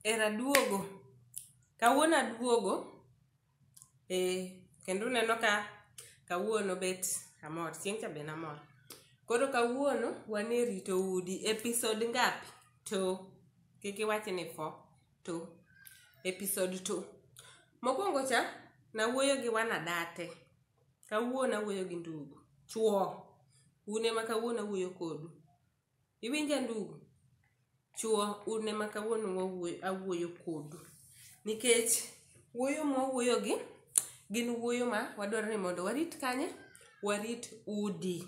Era duogo. Kawuono aduogo. Eh, kendo uneno ka kawuono bet amor. Chieng' cha be namor. Koro kawuono wan e rito udi. Episode ngapi? To. Kik iwach ni fo. To. Episode to. Mokwongo cha, nawuoyo gi wanadate. Kawuono awuoyo gi ndugu. Chuo. Un ema kawuono awuoyo kodu. iwinja ndugu chuo un ema kawuono wawuoyo- awuoyo kodu nikech wuoyo mwawuoyogi gin wuoyo ma wadwaro ni mondo warit kanye warit udi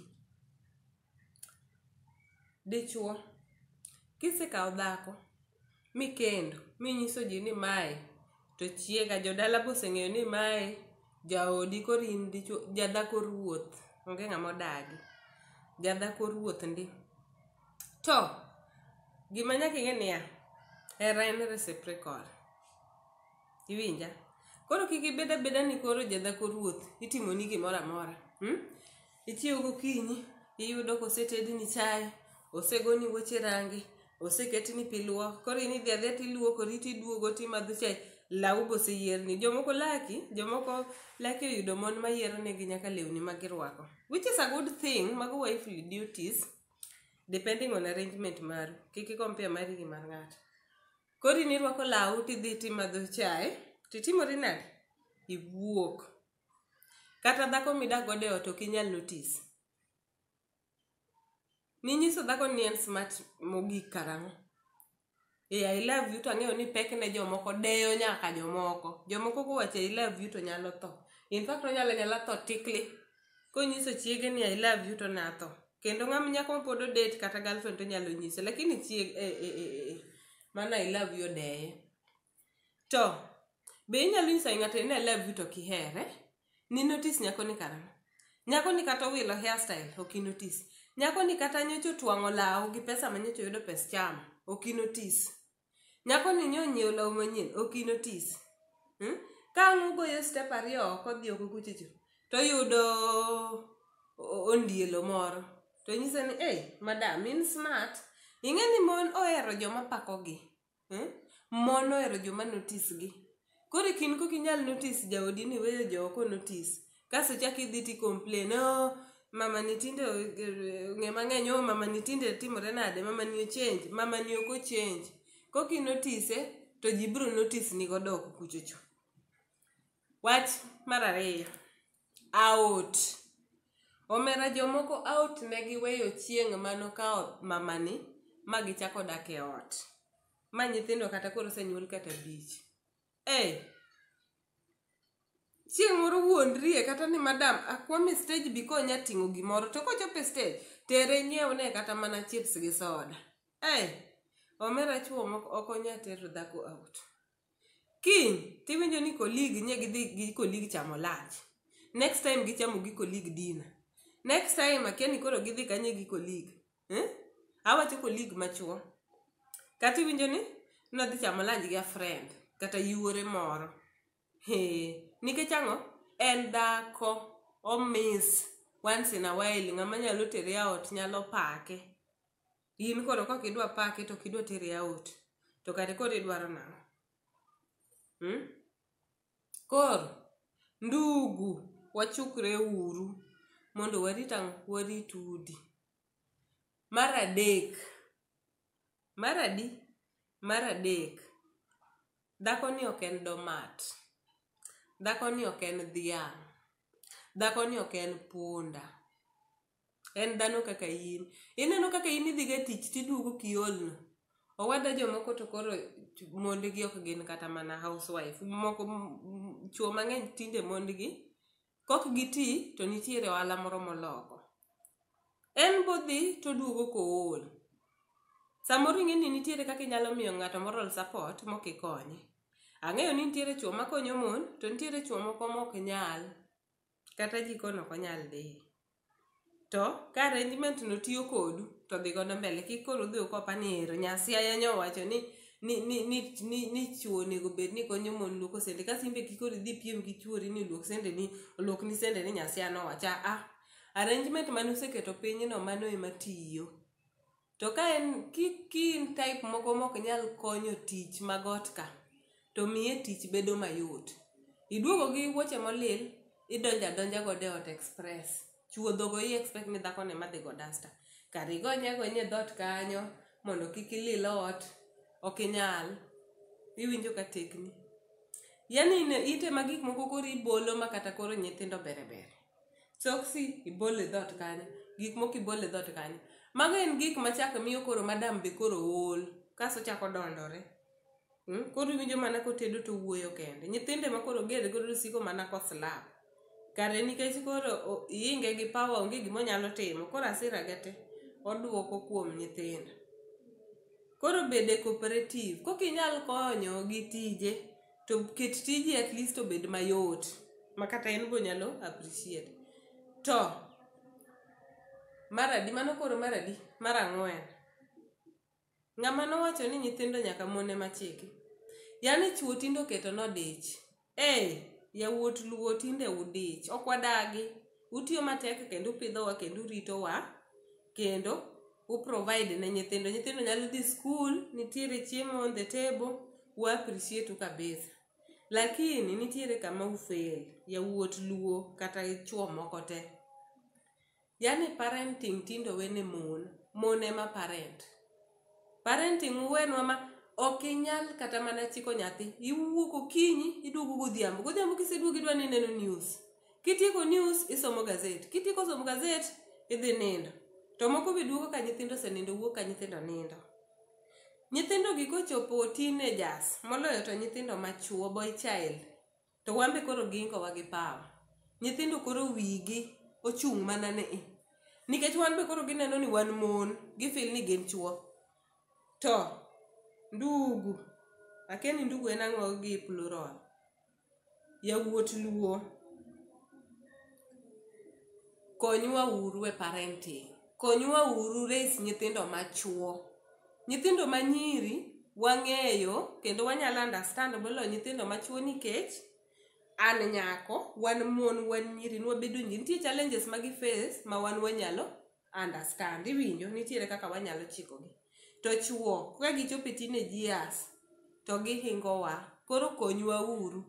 dichuo kisekawo dhako mikendo minyiso ji ni mae to chiega jodala be oseng'eyo ni mae jaodi koro in dichuo jadhako ruoth onge ng'ama odagi jadhako ruoth ndi to gima nyaka ing'e niya hera en reciprocal iwinja koro kik ibed abeda ni koro jadhako ruoth itimoni gimoro amora hmm? Ichiewo gokinyi, iyudo kosetedni chai, osegoni wuoche rangi, oseketni pi luok, koro in idhi adhiya tiluokori tiduogo timadho chai, lawu be oseyierni. Jomoko laki, jomoko laki oyudo mon mayiero negi nyaka lewni ma girwako. Which is a good thing, mago wifely duties depending on arrangement maru. Kik i-compare mari gi mar ng'ato. Koro in irwako lawu tidhi timadho chai, titimori nade? Iwuok. Kata dhako midak godo e ot ok inyal notice. Ninyiso dhako ni en smart mogik karang'o? Ee, I love you to ang'eyo ni pek ne jomoko deyo nyaka jomoko. Jomoko kowacho I love you to nyalo tho. In fact onyalo anyala tho tikli. Konyiso chiege ni I love you to natho. Kendo ng'ama nyako ma pod odate kata girlfriend to nyalo nyise. Lakini chiege eh eh eh eh. Mano I love you odeye. to be inyalo nyiso ng'ato ni I love you to kihere ni notice nyako ni karang'o nyako ni kata owilo hairstyle ok inotis nyako ni kata nyocha otwang'o law gi pesa ma nyocha oyudo pes chama ok inotis nyako ni nyo onyiewo law manyien ok inotis hmm? ka ang' ugoyo step ariyo oko dhi oko kuchicho to yudo ondielo moro to nyise ni ei madam in smart ing'e ni mon ohero joma pakogi Eh? Mon ohero joma notice gi. Koro e kin kok inyal notice jaodi ni weyo jo ok notice. Kasto chak idhi ti complain, oh, mama ni tinde o- er, ng'e mang'eny, oh, mama ni tinde timore nade, mama ni ochange, mama ni ok ochange. Kok inotise, to ji biro notice ni godo oko kuchocho. Wach mar ariyo, Out. Omera jomoko out ne giweyo chieng' mano ka mamani ma gichako dak e ot. Ma nyithindo kata koro osenyuol kata abich. Ei! Chieng' moro wuondrie kata ni madam akwame stage bi konya ting'o gimoro to kochope stage tere inyiewne kata mana chips gi soda. Ei! Omera chwo moko ok onya tero dhako out. kiny tiwinjo ni kolig nye gidhi gi kolig chamo lunch next time gichamo gi kolig dina next time akia ni koro gidhi kanye gi kolig eh? awacho kolig machuo kata iwinjo ni nadhi chamo lunch gi a friend kata yuore moro he nikech ang'o en dhako omis once in a while ng'ama nyalo tere aot nyalo pake in koro kok idwa pake to kidwa tere out to kare koro idwaro nang'o hmm? koro ndugu wachukre uru mondo warit ang'o warit udi mar adek mar adi mar adek dhako ni ok en domat dhako ni ok en dhiang' dhako ni ok en punda en dhano kaka in ineno kaka in idhiga tich tiduogo kiolno owada jomoko to koro mondgi ok gin kata mana housewife moko chuo mang'eny tinde mondgi kok giti to nitiere ohala moro moloko en bodhi toduogo kool samoro ing'e ni nitiere kaka inyalo miyo ng'ato moral support mok ikonye ang'eyo ni nitiere chuo makonyo mon to nitiere chuo moko mok nyal kata jikon ok onyal dhi to ka arrangement no tiyo kodu to dhi godo mbele kik koro udhi ukopa ni ero nyasiaya nyo wacho ni ni ni ni ni, ni chuo onego bed ni konyo mon luoko sende ka simbe kik koro idhi piem gi chuori ni luok sende ni luok ni sende ni nyasiaya nowacha ah arrangement mane useketo piny no mano ema tiyo to ka en ki, ki in type moko mok nyal konyo tich mag ot ka to miye tich bedo mayot iduogo gi wuoche molil idonjo adonja godo e ot express chuodho go i expect ni dhako ne madhi go dasta kar igonye gonye dhot kanyo mondo kik ilil ot ok inyal iwinjo ka tekni yani ine- itema gik moko koro ibolo ma kata koro nyithindo bere bere soksi ibolo e dhot kanyo gik moko ibolo e dhot kanyo mago en gik machako miyo koro madam be koro ool kaso chako dondore mm? koro iwinjo mana kotedo to wuoyo kende nyithinde ma koro gede godo siko mana koslap kare nikech koro o- iinge gi pawa onge gima onyalo timo koro asira ge te oduoko kuom nyithindo koro bede cooperative kokinyal konyo gi tije to ket tiji at least obed mayot ma kata en go nyalo appreciate to maradi mano koro maradi mar ang'wen ng'ama nowacho ni nyithindo nyaka mone machiki yani chuo tinde oketo nodich ee yawuot luo tinde udich ok wadagi utiyo matek kendo upidhowa kendo uritowa kendo u provide ne nyithindo nyithindo nyalo dhi school nitiere chiemo on the table u appreciate u kabisa lakini nitiere kama u fail yawuot luo kata chuo moko te yani parenting tinde owene mon mon ema parent Parenting uwenwa ma ok inyal kata mana chiko nyathi. Iwuok okinyi, iduogo godhiambo. Godhiambo kiseduogo idwa ni ineno news. Kitieko news, isomo gazet. Kitieko somo gazet, idhi nindo. To moko be duogo ka nyithindo osenindo, wuok ka nyithindo nindo. Nyithindogi kochopo teenagers, moloyo to nyithindo machwo, boy child, To wan be koro giingowa gi power. Nyithindo koro wigi ochung' mana ni i. Nikech wan be koro gineno ni wan mon, gifil ni gin chuo. To ndugu, akia ni ndugu en ang'o gi plural. Yawuot luo, konywa uru e parenting. Konywa uru raise nyithindo machuo. Nyithindo ma nyiri wang'eyo kendo wanyalo understand moloyo nyithindo ma chwo nikech an nyako, wan mon, wan nyiri, nwabedo nyiri. Nitie challenges ma gi face ma wan wanyalo understand. Iwinjo? Nitiere kaka wanyalo chikogi. To chwo, ka gichopo e teenage years, to gihingowa. Koro konywa uru.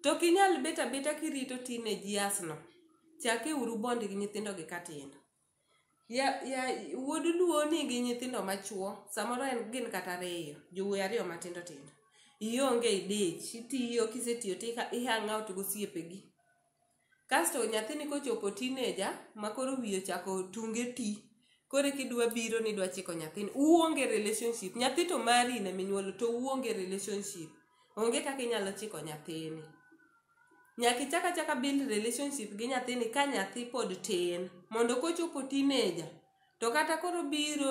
To ok inyal bet abeta kirito teenage years no. Chake uru bond gi nyithindo gi ka tindo. Ya, ya, wuod luo nigi nyithindo machuo samoro en gin kata ariyo jowuoyi ariyo matindo tindo ionge idich itiyo kisetiyo to iha- ihang out gosiepegi kasto nyathini kochopo tineja ma koro wiye ochako tunge ti koro eka idwa biro ni idwa chiko nyathini uonge relationship nyathi to mari ne minyuolo to uonge relationship onge kaka inyalo chiko nyathini Nyaka ichak achaka build relationship gi nyathini ka nyathi pod tin. Mondo kochopo teenager, to kata koro biro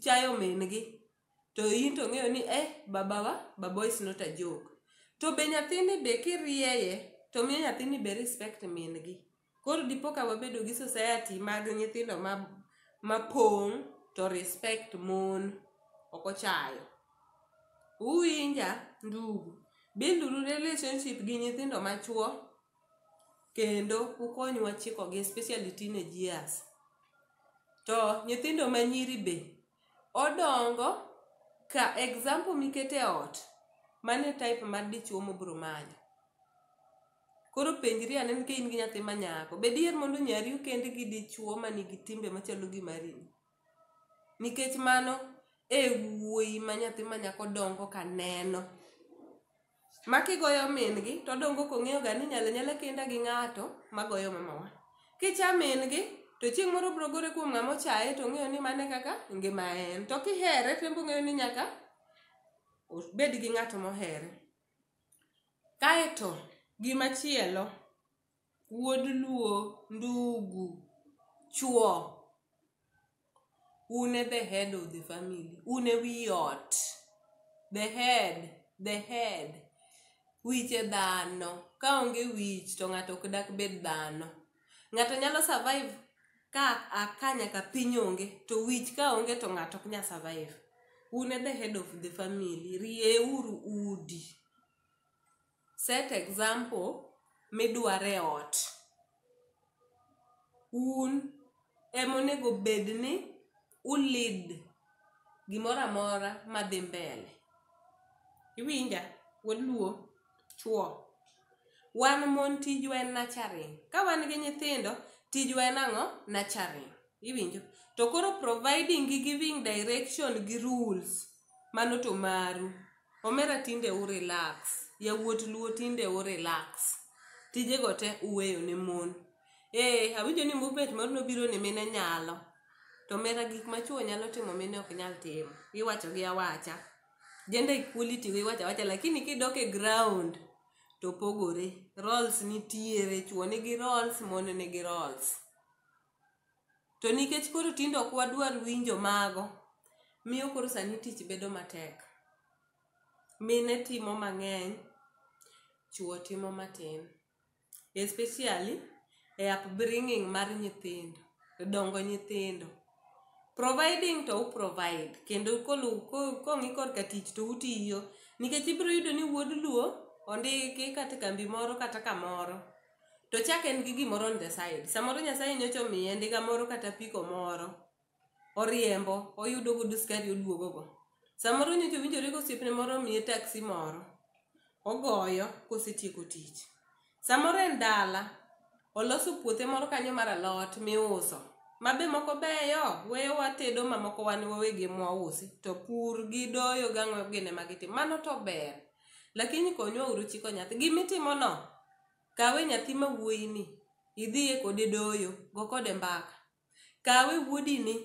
chayo min gi, to in to ng'eyo ni eh, babawa, babawa is not a joke. To be nyathini be kirieye, to miyo nyathini be respect min gi. Koro dipo ka wabedo gi society mag nyithindo ma ma pong' to respect mon ok ochayo. Uwinja ndugu, build uru relationship gi nyithindo ma chwo kendo ukonywa chikogi especially teenage years. To nyithindo ma nyiri be, odongo ka example mikete ot mano e type mar dichwo mobro manyo. Koro penjri ane ni ka in gi nyathi ma nyako, be diher mondo nyari okend gi dichwo ma nigi timbe machalo gi mari? Nikech mano e wuoyi ma nyathi ma nyako dongo ka neno. Ma kigoyo min-gi to odongo kong'eyo ga ni nyale nyale kenda gi ng'ato ma goyo mamawa. Kicha min-gi to chieng' moro obiro gore kuom ng'ama ochaye to ong'eyo ni mano e kaka ngima en. To kihere to en be ong'eyo ni nyaka obed gi ng'at mohere. Kaeto gimachielo, wuod luo, ndugu, chuo, un e the head of the family, un e wi ot, the head, the head. Wich e dhano, ka onge wich to ng'ato ok dak bed dhano. ng'ato nyalo survive ka aka nyaka piny onge to wich ka onge to ng'ato ok nya survive un e the head of the family rieuru udi set example midware ot un ema onego bed ni u lead gimoro amora madhi mbele iwinja waluo chuo wan mon tijwa en nurturing ka wan gi nyithindo tijwa en ang'o nurturing iwinjo to koro providing gi giving direction gi rules mano to maru omera tinde u relax yawuot luo tinde u relax tijego te uweyo ne mon Ee, awinjo ni movement moro nobiro ni mine nyalo. To mera gik ma chwo nyalo timo mine ok nyal timo. Iwacho gi awacha. Gender equality go iwacho awacha lakini kidok e ground to opogore. Roles nitiere, chwo nigi roles, mon nigi roles. To nikech koro tinde ok wadwar winjo mago, miyo koro sani tich bedo matek. Mine timo mang'eny, chwo timo matin. especially e upbringing mar nyithindo dongo nyithindo providing to u provide kendo kolu- ko- kong'i korka tich to utiyo nikech ibiro yudo ni wuod luo ondiki kata e kambi moro kata kamoro to chak en gi gimoro on the side samoro nyasaye nyocha omiye ndiga moro kata apiko moro oriembo oyudo godo skari oduogogo samoro nyocha owinjore ka osiepne moro omiye taksi moro ogoyo kosetieko tich samoro en dala oloso puothe moro kanyo mar alot miuso ma be moko beyo weyo watedo ma moko wan wawegi mwausi to pur gi doyo gang'o gine ma gitim mano to ber lakini konywa uru chiko nyathi gimitimono kawe nyathi ma wuoyini idhiye kode doyo go kode mbaka Kawe wuodini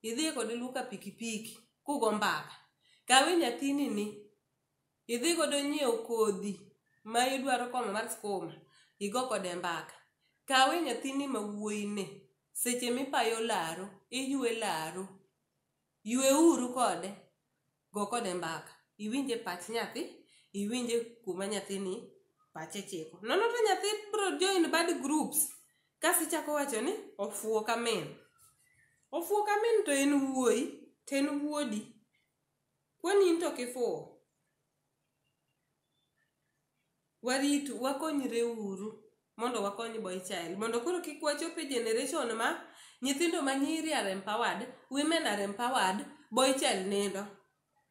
idhi kode luka pikipiki kugo mbaka. Kawe nyathini ni idhi godo nyiew kodhi ma idwaro komo mar skuma igo kode mbaka. Kawe nyathini ma wuoyi ni seche mipayo laro iywe laro Yweuru kode, go kode mbaka, iwinje pach nyathi, iwinje kuma nyathini pache chiko. Nono to nyathi bro join bad groups kasi ichako wacho ni ofuwo ka min. Ofuwo ka min to en wuoyi, to en wuodi. Kwani in to ok ifuwo? waritu wakonyre uru mondo wakony boy child mondo koro kik wachop e generation ma nyithindo ma nyiri are empowered women are empowered boy child nindo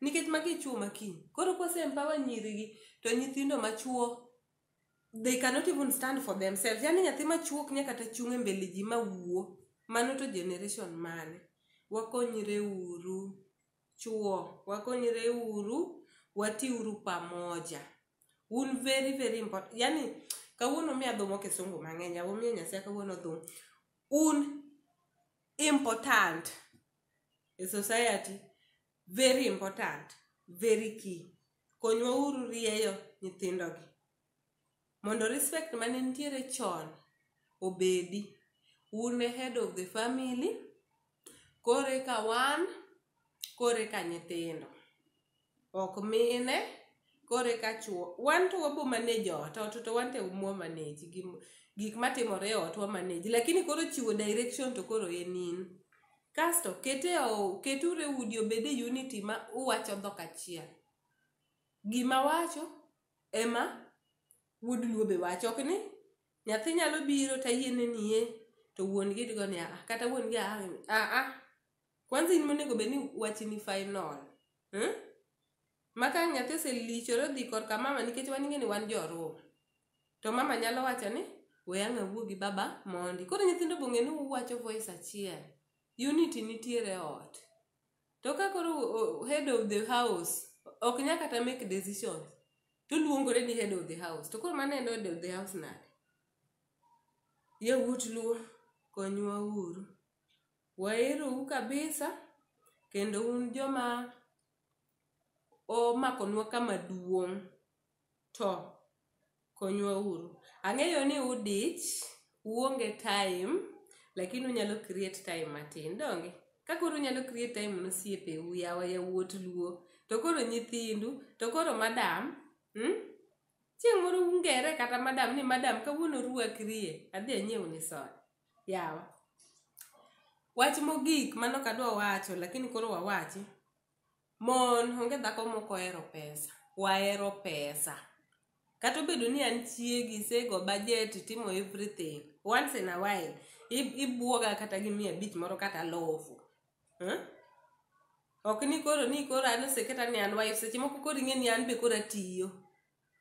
nikech magi chuo makiny koro kose empower nyirigi to nyithindo machuo they cannot even stand for themselves yani nyathi machuo ok nya kata chung' e mbele ji ma wuo mano to generation mane wakonyre uru Chuo, wakonyre uru, watiuru pamoja. Un very very important. Yani kawuono mi adhomo kisungu mang'eny, abo miyo Nyasaye kawuono dhum. Un important e society, very important, very key. Konywa uru rieyo nyithindogi. Mondo respect mane nitiere chon obedi, un e head of the family, koro eka wan, koro eka nyithindo. Ok mine, koro eka chuo. Wan to wabo manage ot, ot to wan to mwa manage gi gik matimore e ot wa manage. Lakini koro chiwo direction to koro en in. Kasto kete o, keture udi obede unity ma uwacho dhok achiel. Gima wacho, ema wuod luo be wacho ok ni nyathi nyalo biro to ayiene niye to wuon gi digo ni a kata wuon gi a a a kwanza in monego bed ni wachi ni final hmm? maka nyathi oselichore odhi korka mama nikech wan ing'eni wan joruo to mama nyalo wacho ni we ang' awuo gi baba mondi koro nyithindo bong'e ni uwacho voice achiel unity nitiere e ot to ka koro o- head of the house ok nya kata make decisions to luongore ni head of the house to koro mano en head of the house nade yawuot luo konywa uru waerou kabisa kendo un joma omakonwa kama duong' to konywa uru. Ang'eyo ni udich, uonge time, lakini unyalo create time matin, donge? Ka koro unyalo create time ne osiepeu, yawa yawuot luo, to koro nyithindu, to koro madam, mm? Chieng' moro ungere kata madam ni madam kawuono ruakrie, adhi anyiew ni soda. Yawa. Wach mogik mano kadwa wacho lakini koro wawachi. Mon, onge dhako mok ohero pesa. Wahero pesa. Kata obedo ni an chiegi, isego bajet, itimo everything. Once in a while, i- ibwoga kata gi mia abich moro kata alofu. Huh? Ok ni koro ni koro an oseketa ni an wife, seche moko koro ing'e ni an be koro atiyo.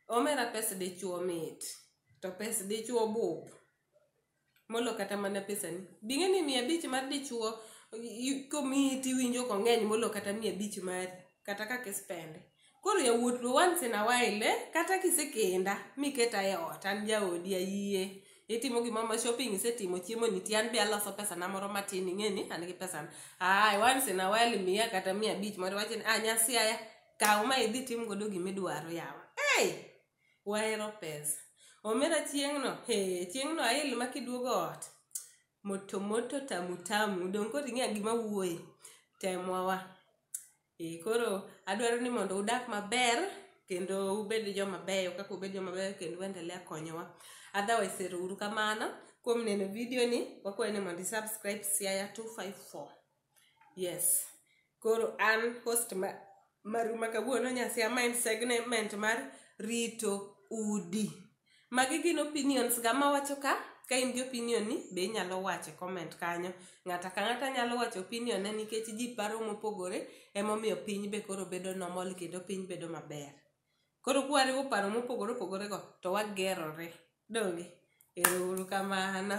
Omera pes dichuo mit, to pes dichuo bup. molo kata mana pesani bing'e ni mia abich mar dichuo komiyi tiwinjo kong'eny molo kata mia abich mari kata kaka ispende koro yawuot lo once in a while eh? kata kisekenda miketa e ot an jaodi ayie itimo gimoro ma shopping isetimo chiemo nitie an be aloso pesana moro matin ing'e ni an gi pesana ay once in a while miya kata mia abich moro wache ni ah nyasiaya kaw ma idhi tim godo gimidwaro yawa hey! wahero pesa omera chieng'no he chieng'no ail ma kiduogo ot moto moto tamu tamu dong koro ing'eya gima wuoye temwa wa e koro adwaro ni mondo udak maber kendo ubed joma beyo kaka ubed joma beyo kendo uendelea konyowa otherwise ero uru kamano kuom neno video ni wakwayo ni mondo i subscribe siaya 254 yes koro an host ma, maru ma kawuono nyasi ama en segment mar rito udi magi gin opinions ga mawacho ka ka in gi opinion ni be inyalo wache comment kanyo ng'ata ka ng'ata nyalo wacho opinion ne nikech ji paro mopogore emomiyo piny be koro bedo normal kendo piny bedo maber koro kwariwo paro mopogore opogore go to wagerore donge ero uru kamano